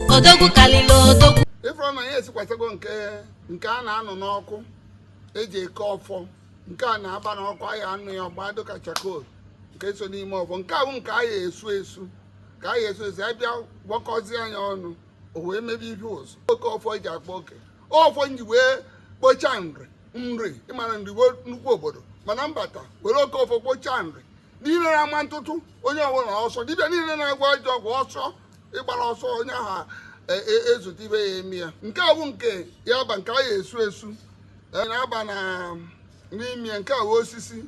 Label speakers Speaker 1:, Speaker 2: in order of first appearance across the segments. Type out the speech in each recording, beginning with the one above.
Speaker 1: odogwu kalịlị odogwu ị fụrụ na ya
Speaker 2: esikwasago nke nke a na-anụ n'ọkụ eji eke ọfọ nke a na-aba n'ọkụ anyị anụ ya ọ gbaa dịka charcoal nke so n'ime ọfọ nke ahụ nke anyị esu esu ka anyị esu esu ya bịa gwakọzie nya ọnụ o wee mebe ihe ụzọ oke ọfọ eji akpa oke ọfọ m ji wee kpochaa nri nri ị mara nri wụ nnukwu obodo mana m bata were oke ọfọ kpochaa nri niile na-ama ntụtụ onye ọbụla ọsọ dibịa niile na-agwọ ajọ ọgwụ ọsọ ị gbara ọsọ onye ahụ e, e, ezute ife ya-eme ya nke a bụ nke ya ba nke a ya esu esu e, na-aba na n'ime nke a bụ osisi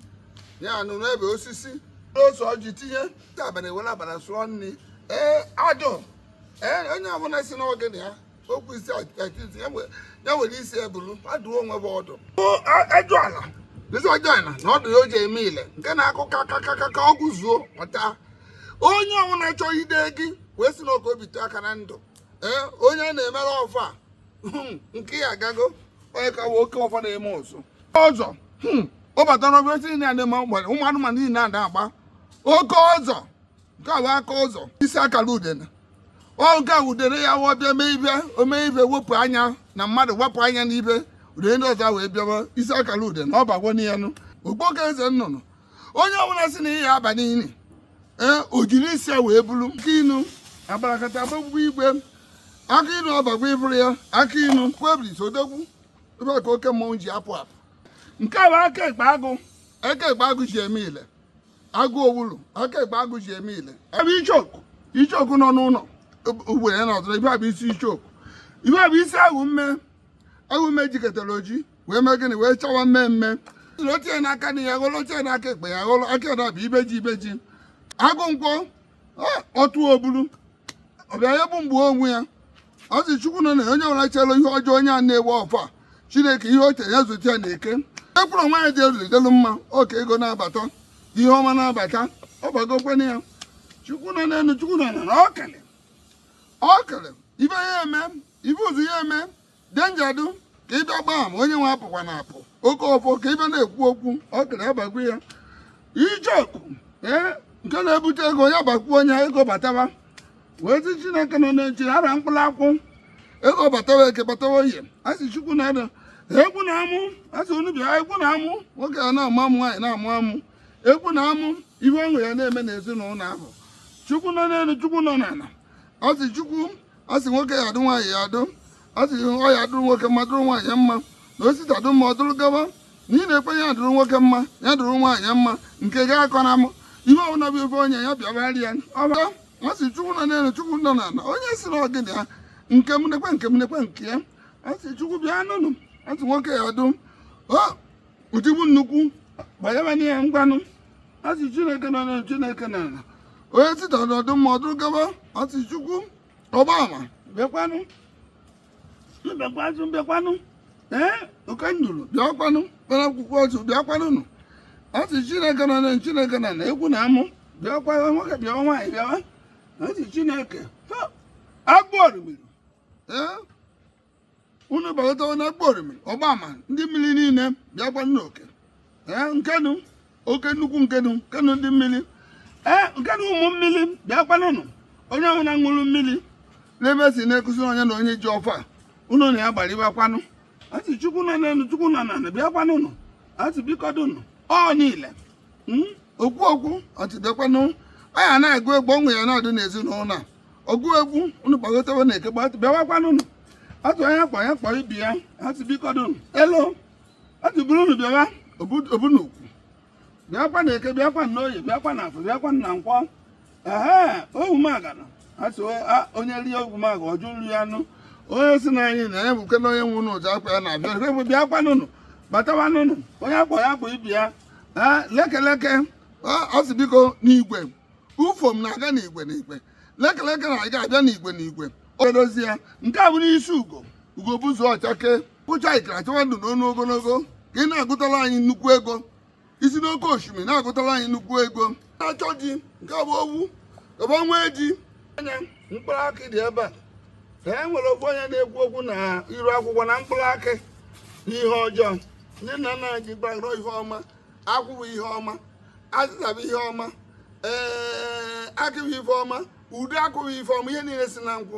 Speaker 2: anụnụebe osisi ose ọjị tinye abalị were abalị sụọ nri ee adụ ee onye ọbụla sị na ọ ga-enye ya okwu isi akitizi ya nwere isi ebulu adụọ onwe bụ ọdụ ajụ ala isi ọjọọ na na ọdụ ya o ji eme ile nke na-akụ ka ka ka ka ka ọ gụzuo ọta onye ọbụla chọọ ide gị wee si n'oke obi tụọ aka na ndụ ee onye na-emere ọfọ a, hmm, nke ya agago onye ka oke ọfọ na-eme ọzọ ọzọ hmm, ọ batara ọfịa si na ya na-eme ụmụ ụmụ anụmanụ niile na-ada agba oke ọsọ nke a bụ aka ụzọ isi akara udene ọ nke a udene ya wụọ bịa mee ife o mee ife wepụ anya na mmadụ wepụ anya n'ibe udene ndị ọzọ wee bịawa isi akara udene ọ bago n'ihe nụ okpoko eze nnụnụ onye ọbụla sị na ị ya-aba n'ili ee o jiri isi ya wee bulu akị inu agbarakata agbagwugwu igwe akị inu ọ bago i buru ya akị inu kwebris odogwu ife a ka oke mmọnwụ ji apụ apụ nke a bụ aka ekpe agụ aka ekpe agụ ji eme ile agụ owulu aka ekpe agụ ji eme ile ebe ichoku ichoku nọ n'ụlọ ugbere ya nọdụrụ ife a bụ isi ichoku ife a bụ isi awọ mme awọ mme jikọtara o ji wee mee gịnị wee chawa mmee mmee o tie n'aka nri ya ghọrọ o tie n'aka ekpe ya ghọrọ nke a bụ ibeji ibeji agụ nkwọ ọtụ obulu ọbịa ya bụ mgbe onwe ya a sị chukwu nọ n'ana onye ọbụla chere ihe ọjọọ onye a na-ewe ọfọ a chineke ihe o che ya zute ya na eke ekwuru nwa ya jere delu mma oke ego na-abata ihe ọma na-abata ọ bagokwa na ya chukwu nọ n'elu chukwu nọ n'ana o kele o kele ife ya-eme ife ụzụ ya-eme denjadu ka ịbịa gbaa m onye nwe apụkwa na apụ oke ọfọ ka ife a na-ekwu okwu ọ kere abagwu ya ijeku ee nke na-ebute ego ya bakwuo onye ego batawa wee sị chineke nọ na-eji ara mkpụrụ akwụ ego batawa eke batawa oye a sị chukwu na-ada egwu na amụ a sị unu bịa egwu na amụ nwoke a na-amụ amụ nwaanyị na-amụ amụ egwu na amụ ihe ọṅụ ya na-eme n'ezinụlọ ahụ chukwu nọ n'elu chukwu nọ n'ala a sị chukwu a sị nwoke ya adụ nwaanyị ya adụ a sị ọ ya adụrụ nwoke mma dụrụ nwaanyị mma na o si taa dụ mma ọ dụrụ gawa na ị na-ekwe ya dụrụ nwoke mma ya dụrụ nwaanyị mma nke gị akọna mụ ihe ọbụla bụ ife onye ya bịabara ya ọbara a sị chukwu nọ n'elu chukwu nọ n'ala onye sị na ọ gịnị ya nke m nekwe nke m nekwe nke ya a sị chukwu bịanụnụ a sị nwoke ya adụ utigbu nnukwu gbanyebanye ya ngwanụ a sị chineke nọ n'elu chineke n'ala onye si taa dụ mma ọ dụrụ gaba a sị chukwu ọgbaama bịakwanụ bịakwanụ bịakwanụ ee oke nduru bịakwanụ kpara akwụkwọ ọzọ bịakwanụnụ a sị chineke nọ n'elu chineke n'ala egwu na amụ bịakwa nwoke bịa nwaanyị bịawa a sị chineke agbụ orimiri ee unu bagatawa na okporo mmiri ọgbaama ndị mmiri niile bịakwanụnụ oke ee nkenu oke nnukwu nkenu nkenu ndị mmiri ee nkenu ụmụ mmiri bịakwanụnụ onye ọbụla ṅụrụ mmiri n'ebe si na-ekuzi onye na onye ji ọfọ unu na ya gbarịbakwanụ a sị chukwu nọ n'elu chukwu nọ n'ala bịakwanụnụ a sị bikodụnụ ọ niile okwu okwu a sị bịakwanụ anyị na-agụ egwu ọṅụ ya na-adị n'ezinụlọ a ọgụ egwu unu kpọgotewe na eke bịawakwanụnụ a sị onye akpọ ya kpọ ibe ya a sị bikodụnụ elo a sị buru unu bịawa obunukwu bịakwa na eke bịakwa na oye bịakwa na afọ bịakwa na nkwọ ehe ogwumagana a sị onye rie ogwumaga ọ jụ nri anụ onye sị na anyị na ya bụ kena onye nwe unu ụja akwa ya na-abịa ebe bịakwanụnụ batawanụnụ onye akpọ ya kpọ ibe ya ee lekeleke ọ sị biko n'igwe ufom na-aga n'igwe n'igwe lekeleke na-aga abịa n'igwe n'igwe odozi ya nke a bụ n'isi ugo ugo gbuzuo ọ chake bụcha ikara chọwa ndụ n'ọnụ ogologo ka ị na-agụtara anyị nnukwu ego isi n'oke osimiri na-agụtara anyị nnukwu ego na-achọ ji nke bụ owu gaba nwee ji anya mkpụrụ akị dị ebe a ka e nwere ofu onye na-ekwu okwu na iru akwụkwọ na mkpụrụ akị n'ihe ọjọọ ndị nna nna anyị ji gbagoro ihe ọma akwụ bụ ihe ọma azịza bụ ihe ọma ee akị bụ ife ọma ude akụ bụ ife ọma ihe niile si na nkwụ